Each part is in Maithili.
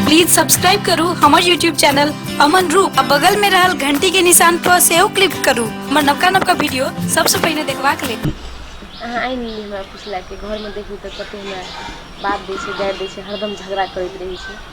प्लीज सब्सक्राइब करू हमर यूट्यूब चैनल अमन रूप आ बगल में रहल घंटी के निशान पर सेहो क्लिक करू हमर नवका नवका वीडियो सबसे पहले देखबाक लेल अहाँ आइ नहि हमरा पुछला कि घरमे देखू तऽ कतेक हमरा बात दै छै गारि दै छै हरदम झगड़ा करैत रहै छै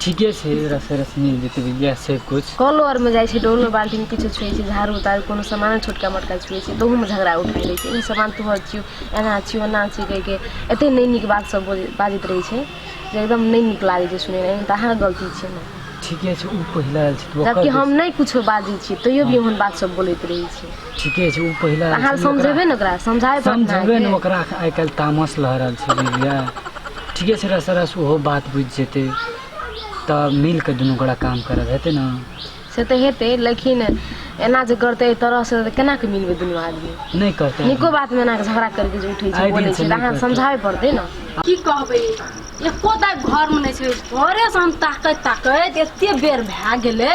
ठीके छै रस रस मिल जेतै इएह छै कुछ कलो आरमे जाइ छै डोलो बाल्टीमे किछो छुए छै झाड़ू ताड़ू कोनो सामान छोटका मोटका छुए छै तहूमे झगड़ा उठा लै छै ई सामान तोहर छियौ एना छियौ ओना छियौ कहिके एतेक नहि नीक बात सब बोल बाजैत रहै छै जे एकदम नहि नीक लागै छै सुनैमे एहन तऽ अहाँ गलती छै ने ठीके छै ओ पहिला आयल छै तऽ जबकि ओकर हम नहि किछो बाजै छियै तैयो भी ओहन बात सब बोलैत रहै छै ठीके छै ओ पहिला तऽ हाल समझेबै ने ओकरा समझाए पड़त ने समझेबै ने अहाँके। ओकरा आइ काल्हि तामस लऽ रहल छै बुझलियै ठीके छै रस रस ओहो बात बुझि जेतै तऽ मिल कऽ दुनू गोरा काम करब हेतै ने से तऽ हेतै लेकिन एना जे करतै एहि तरहसँ तऽ केना कऽ मिलबै दुनू आदमी नहि करतै नीको बातमे एना कऽ झगड़ा करिके जे उठै छै आइ बोलै दिनसँ छै तऽ नहि अहाँ करतै। समझाबे पड़तै ने की कहबै एको दाइ घरमे नहि छै घरेसँ हम ताकैत ताकैत एते बेर भए गेलै